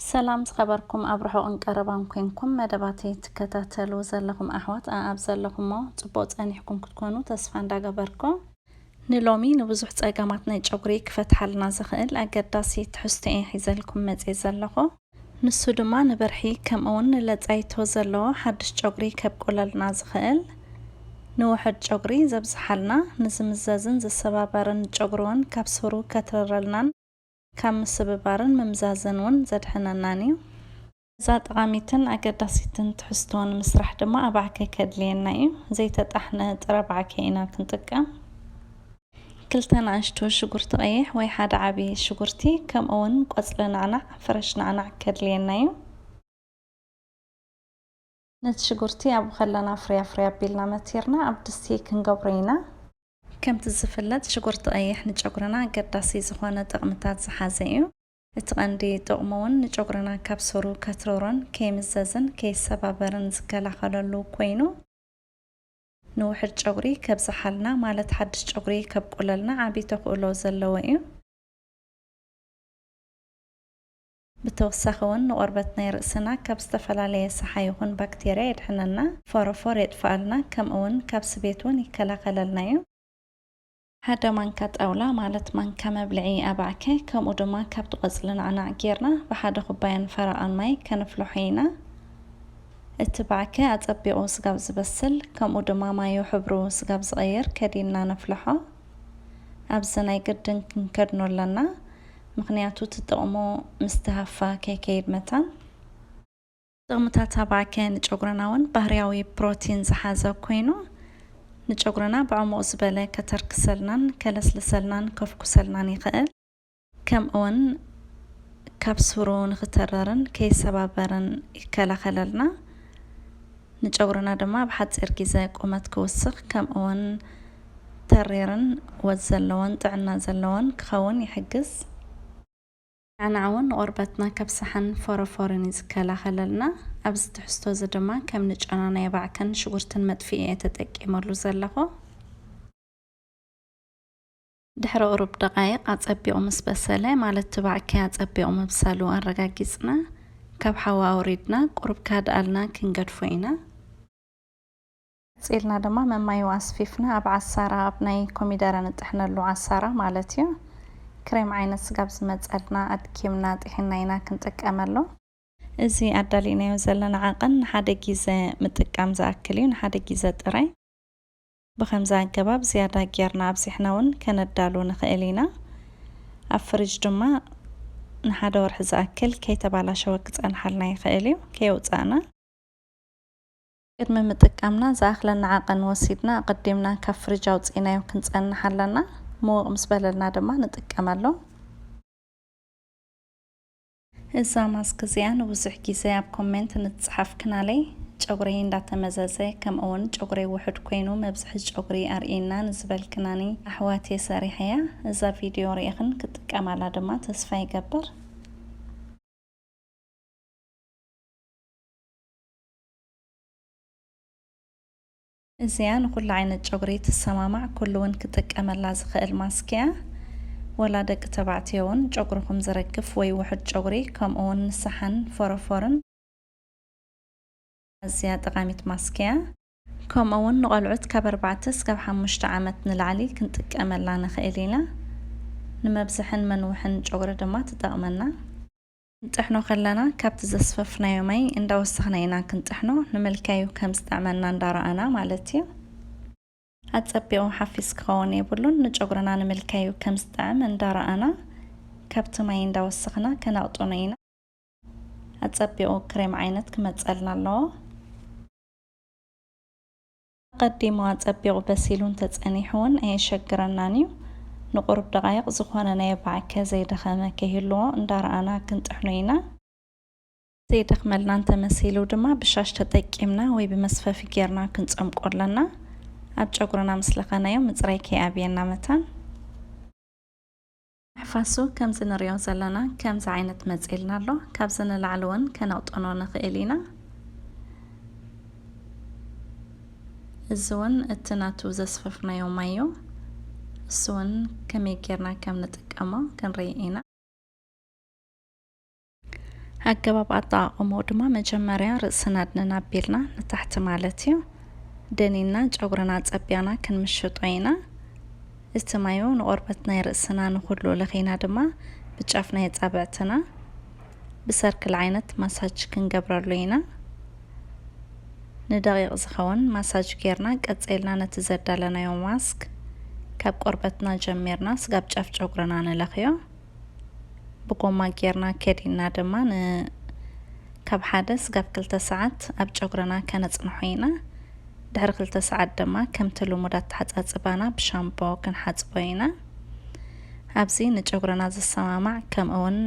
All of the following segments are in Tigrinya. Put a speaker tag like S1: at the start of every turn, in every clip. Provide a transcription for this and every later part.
S1: ሰላም ዝኸበርኩም ኣብ ርሑቕን ቀረባን ኮንኩም መደባተይ ትከታተሉ ዘለኹም ኣሕዋት ኣኣብ ዘለኹሞ ጽቡቕ ጸኒሕኩም ክትኮኑ ተስፋ እንዳገበርኩ ንሎሚ ንብዙሕ ጸገማት ናይ ጨጉሪ ክፈትሓልና ዝኽእል ኣገዳሲ ትሕዝቶ እየ ሒዘልኩም መጽየ ዘለኹ። ንሱ ድማ ንብርሒ ከምኡውን ንለጻይቶ ዘለዎ ሓድሽ ጨጉሪ ከብቁለልና ዝኽእል ንውሑድ ጨጉሪ ዘብዝሓልና ንዝምዘዝን ዝሰባበርን ጨጉሪውን ካብ ሱሩ ከትርረልናን ካብ ምስብባርን ምምዛዝን እውን ዘድሕነናን እዩ። ነዛ ጠቓሚትን ኣገዳሲትን ትሕዝቶ ንምስራሕ ድማ ኣባዕከ ከድልየና እዩ። ዘይተጣሕነ ጥረ ባዕከ ኢና ክንጥቀም። ክልተ ናእሽቱ ሽጉርቲ ቀይሕ ወይ ሓደ ዓቢ ሽጉርቲ ከምኡ እውን ቆጽሊ ናዕናዕ፣ ፍረሽ ናዕናዕ፣ ከድልየና እዩ። ነቲ ሽጉርቲ ኣብኡ ከለና ፍርያ ፍርያ ኣቢልና መቲርና ኣብ ድስቲ ክንገብሮ ኢና። ከምቲ ዝፍለጥ ሽጉርቲ ቀይሕ ንጨጉርና ኣገዳሲ ዝኾነ ጥቕምታት ዝሓዘ እዩ። እቲ ቀንዲ ጥቕሙ እውን ንጨጉርና ካብ ሱሩ ከትርሮን ከይምዘዝን ከይሰባበርን ዝከላኸለሉ ኮይኑ ንውሑድ ጨጉሪ ከብዝሓልና ማለት ሓድሽ ጨጉሪ ከብቁለልና ዓብይ ተኽእሎ ዘለዎ እዩ። ብተወሳኺ ውን ንቆርበት ናይ ርእስና ካብ ዝተፈላለየ ሰሓ ይኹን ባክቴርያ የድሕነልና፣ ፎሮፎር የጥፍኣልና ከምኡ ውን ካብ ስቤት ውን ይከላኸለልና ዩ። ሓደ ማንካ ጣውላ ማለት ማንካ መብልዒ ኣባዕከ ከምኡ ድማ ካብቲ ቆጽሊ ናዕናዕ ጌርና ብሓደ ኩባያን ፈረቓን ማይ ከንፍልሖ ኢና። እቲ ባዕከ ኣጸቢቑ ስጋብ ዝበስል ከምኡ ድማ ማዩ ሕብሩ ስጋብ ዝቐይር ከዲንና ነፍልሖ። ኣብዚ ናይ ግድን ክንከድኖ ኣለና። ምኽንያቱ እቲ ጥቕሙ ምስቲ ሃፋ ከይከይድ መታን። ጥቕምታት ኣባከ ንጨጉርና እውን ባህርያዊ ፕሮቲን ዝሓዘ ኮይኑ ንጨጉርና ብዕሙቕ ዝበለ ከተርክሰልናን ከለስልሰልናን ከፍኩሰልናን ይኽእል። ከምእውን ካብ ሱሩ ንኽተረርን ከይሰባበርን ይከላኸለልና። ንጨጉርና ድማ ኣብ ሓጺር ጊዘ ቁመት ክውስኽ ከምእውን ተሪርን ወዝ ዘለዎን ጥዕና ዘለዎን ክኸውን ይሕግዝ። ናዕናዕ እውን ንቆርበትና ካብ ሳሓን ፎሮፎርን እዩ ዝከላኸለልና። ኣብዚ ትሕዝቶ እዚ ድማ ከም ንጨና ናይ ኣባዕከን ሽጉርትን መጥፍኢ እየ ተጠቂመሉ ዘለኹ። ድሕሪ ቁሩብ ደቓይቕ ኣጸቢቑ ምስ በሰለ፣ ማለት ትባዕ ኪያ ጸቢቑ ምብሳሉ ኣረጋጊጽና፣ ካብ ሓዊ ኣውሪድና፣ ቁሩብ ካድኣልና ክንገድፎ ኢና። ቀጺልና ድማ መማይኡ ኣስፊፍና ኣብ ዓሳራ፣ ኣብ ናይ ኮሚደረ ንጥሕነሉ ዓሳራ ማለት እዩ፣ ክሬም ዓይነት ስጋብ ዝመጸልና ኣድኪምና ጢሒንና ኢና ክንጥቀመሉ። እዚ ኣዳሊእናዮ ዘለና ዓቐን ንሓደ ጊዘ ምጥቃም ዝኣክል እዩ፣ ንሓደ ጊዘ ጥራይ። ብኸምዚ ኣገባብ ዝያዳ ጌርና ኣብዚሕና እውን ከነዳሉ ንኽእል ኢና። ኣብ ፍሪጅ ድማ ንሓደ ወርሒ ዝኣክል ከይተባላሸወ ክጸንሓልና ይኽእል እዩ። ከየውጻእና። ቅድሚ ምጥቃምና ዝኣኽለና ዓቐን ወሲድና ኣቐዲምና ካብ ፍሪጅ ኣውጺእናዮ ክንጸንሕ ኣለና። ምውቕ ምስ በለልና ድማ ንጥቀመሉ። እዛ ማስክ እዚኣ ንብዙሕ ግዜ ኣብ ኮሜንት ንትጽሓፍ ክናለይ ጨጉረይ እንዳተመዘዘ ከምእውን ጨጉረይ ውሑድ ኮይኑ መብዝሒ ጨጉሪ ኣርእይና ንዝበልክናኒ ኣሕዋት እየ ሰሪሐያ እዛ ቪድዮ ሪኢኽን ክትጥቀማላ ድማ ተስፋ ይገብር። እዚኣ ንኹሉ ዓይነት ጨጉሪ ትሰማማዕ ኩሉ ውን ክጥቀመላ ዝኽእል ማስክ እያ ወላ ደቂ ተባዕትዮ ውን ጨጉርኹም ዝረግፍ ወይ ውሑድ ጨጉሪ ከምኡ ውን ንሳሓን ፎሮፎርን ኣዝያ ጠቓሚት ማስክ እያ። ከምኡ ውን ንቖልዑት ካብ ኣርባዕተ እስካብ ሓሙሽተ ዓመት ንላዕሊ ክንጥቀመላ ንኽእል ኢና ንመብዝሕን መንውሕን ጨጉሪ ድማ ትጠቕመና። ክንጥሕኖ ከለና ካብቲ ዘስፈፍናዮ ማይ እንዳወሰኽና ኢና ክንጥሕኖ ንምልካዩ ከም ዝጥዕመና እንዳረኣና ማለት እዩ ኣጸቢቑ ሓፊስ ክኸውን የብሉን ንጨጉርና ንምልካዩ ከም ዝጥዕም እንዳረኣና ካብቲ ማይ እንዳወሰኽና ከነቕጥኖ ኢና ኣጸቢቑ ክሬም ዓይነት ክመጸልና ኣለዎ። ኣቐዲሙ ኣጸቢቑ በሲሉ እንተጸኒሑ እውን ኣየሸግረናን እዩ። ንቑሩብ ደቓይቕ ዝኾነ ናይ ኣባዕከ ዘይደኸመ ከይህልዎ እንዳረኣና ክንጥሕኖ ኢና። ዘይደኽመልና እንተመሲሉ ድማ ብሻሽ ተጠቂምና ወይ ብመስፈፊ ጌርና ክንጸምቆ ኣለና። ኣብ ጨጉርና ምስ ለኸናዮ ምጽራይ ከይኣብየና መታን። ሕፋሱ ከምዚ ንሪኦ ዘለና ከምዚ ዓይነት መጺልና ኣሎ ካብዚ ንላዕሊ ውን ከነቅጥኖ ንክእል ኢና እዚ ውን እቲ ናቱ ዘስፈፍናዮ ማይ ዩ እሱ ውን ከመይ ጌርና ከም ንጥቀሞ ክንሪኢ ኢና። ኣገባብ ኣጠቓቕምኡ ድማ መጀመርያ ርእስና ኣድንና ኣቢልና ንታሕቲ ማለት እዩ ደኒና ጨጉርና ጸቢያና ክንምሽጦ ኢና እቲ ማዩ ንቆርበት ናይ ርእስና ንኩሉ ለኺና ድማ ብጫፍ ናይ ኣጻብዕትና ብሰርክል ዓይነት ማሳጅ ክንገብረሉ ኢና ንደቂቕ ዝኸውን ማሳጅ ጌርና ቀጺልና ነቲ ዘዳለናዮ ማስክ ካብ ቆርበትና ጀሚርና ስጋብ ጫፍ ጨጉርና ንለኽዮ ብጎማ ጌርና ከዲንና ድማ ን ካብ ሓደ ስጋብ ክልተ ሰዓት ኣብ ጨጉርና ከነጽንሖ ኢና። ድሕሪ ክልተ ሰዓት ድማ ከምቲ ልሙድ ኣተሓጻጽባና ብሻምቦ ክንሓጽቦ ኢና። ኣብዚ ንጨጉርና ዝሰማማዕ ከምኡውን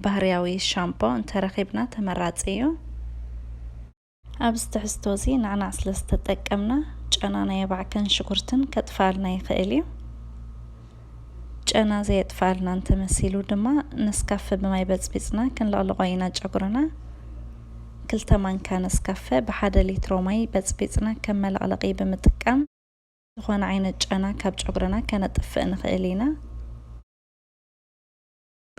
S1: ባህርያዊ ሻምፖ እንተረኺብና ተመራጺ እዩ። ኣብዚ ትሕዝቶ እዚ ንዕና ስለ ዝተጠቀምና ጨና ናይ ኣባዕከን ሽጉርትን ከጥፍኣልና ይኽእል እዩ። ጨና ዘየጥፍኣልና እንተመሲሉ ድማ ነስካፈ ብማይ በጽቢጽና ክንልቕልቖ ኢና ጨጉርና። ክልተ ማንካ ነስካፈ ብሓደ ሊትሮ ማይ በጽቢጽና ከም መለቕለቒ ብምጥቃም ዝኾነ ዓይነት ጨና ካብ ጨጉርና ከነጥፍእ ንኽእል ኢና።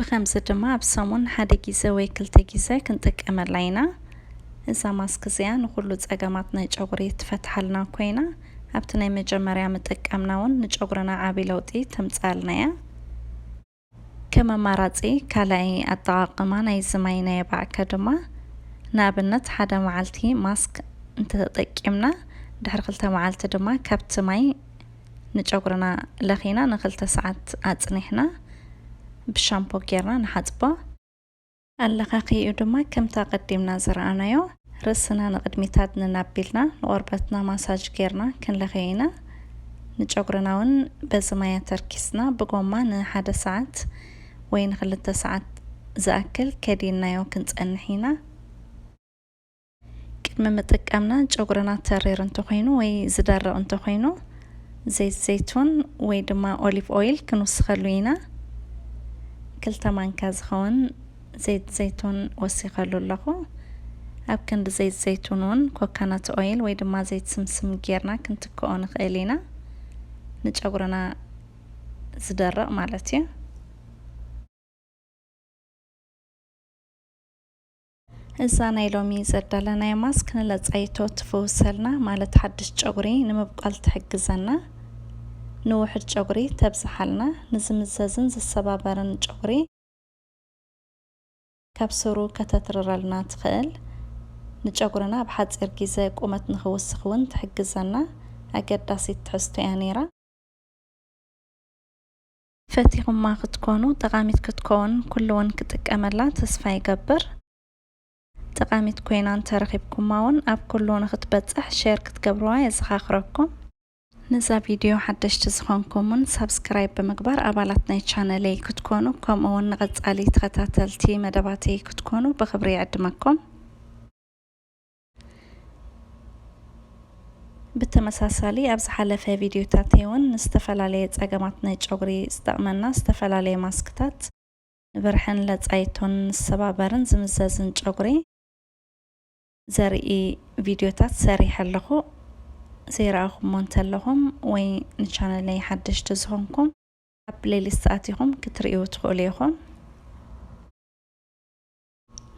S1: ብኸምዚ ድማ ኣብ ሰሙን ሓደ ግዜ ወይ ክልተ ግዜ ክንጥቀመላ ኢና። እዛ ማስክ እዚኣ ንኹሉ ጸገማት ናይ ጨጉሪ ትፈትሓልና ኮይና ኣብቲ ናይ መጀመርያ ምጥቃምና ውን ንጨጉርና ዓቢ ለውጢ ተምጽኣልና እያ። ከም ኣማራጺ ካልኣይ ኣጠቓቕማ ናይዚ ማይ ናይ ኣባዕከ ድማ ንኣብነት ሓደ መዓልቲ ማስክ እንተተጠቂምና ድሕሪ ክልተ መዓልቲ ድማ ካብቲ ማይ ንጨጉርና ለኺና ንክልተ ሰዓት ኣጽኒሕና ብሻምፖ ጌርና ንሓጽቦ። ኣለኻኺኡ ድማ ከምቲ ኣቐዲምና ዝረኣናዮ ርእስና ንቕድሚት ኣድንን ኣቢልና ንቖርበትና ማሳጅ ጌርና ክንለኽዮ ኢና። ንጨጉርና ውን በዚ ማይ ኣተርኪስና ብጎማ ንሓደ ሰዓት ወይ ንክልተ ሰዓት ዝኣክል ከዲንናዮ ክንጸንሕ ኢና። ቅድሚ ምጥቃምና ጨጉርና ተሪር እንተኾይኑ ወይ ዝደርቕ እንተኾይኑ ዘይት ዘይቱን ወይ ድማ ኦሊቭ ኦይል ክንውስኸሉ ኢና ክልተ ማንካ ዝኸውን ዘይት ዘይቱን ወሲኸሉ ኣለኹ ኣብ ክንዲ ዘይት ዘይቱን እውን ኮካናት ኦይል ወይ ድማ ዘይት ስምስም ጌርና ክንትክኦ ንኽእል ኢና ንጨጉርና ዝደርቕ ማለት እዩ እዛ ናይ ሎሚ ዘዳለናያ ማስክ ንለጻይቶ ትፍውሰልና ማለት ሓድሽ ጨጉሪ ንምብቋል ትሕግዘና፣ ንውሑድ ጨጉሪ ተብዝሓልና፣ ንዝምዘዝን ዝሰባበርን ጨጉሪ ካብ ሱሩ ከተትርረልና ትኽእል፣ ንጨጉርና ኣብ ሓጺር ጊዘ ቁመት ንኽውስኽ ውን ትሕግዘና ኣገዳሲት ትሕዝቶ'ያ ኔራ። ፈቲኹማ ክትኮኑ ጠቃሚት ክትኮን ኩሉ ውን ክጥቀመላ ተስፋ ይገብር ጠቃሚት ኮይና እንተረኺብኩማ ውን ኣብ ኩሉ ንኽትበጽሕ ሼር ክትገብርዋ የዘኻኽረኩም። ንዛ ቪድዮ ሓደሽቲ ዝኾንኩም ውን ሳብስክራይብ ብምግባር ኣባላት ናይ ቻነለይ ክትኮኑ ከምኡ ውን ንቐጻሊ ተኸታተልቲ መደባተይ ክትኮኑ ብኽብሪ ይዕድመኩም። ብተመሳሳሊ ኣብ ዝሓለፈ ቪድዮታት እውን ንዝተፈላለየ ፀገማት ናይ ጨጉሪ ዝጠቕመና ዝተፈላለየ ማስክታት ንብርሕን ለፃይቶን ንሰባበርን ዝምዘዝን ጨጉሪ ዘርኢ ቪድዮታት ሰሪሐ ኣለኹ ዘይረኣኹሞ እንተለኹም ወይ ንቻነለይ ሓደሽቲ ዝኾንኩም ኣብ ፕሌሊስት ኣቲኹም ክትርእዩ ትኽእሉ ኢኹም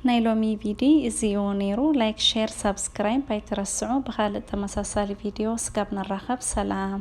S1: ናይ ሎሚ ቪዲ እዚ እዩ ነይሩ ላይክ ሼር ሳብስክራይብ ኣይትረስዑ ብካልእ ተመሳሳሊ ቪድዮ ስጋብ ንራኸብ ሰላም።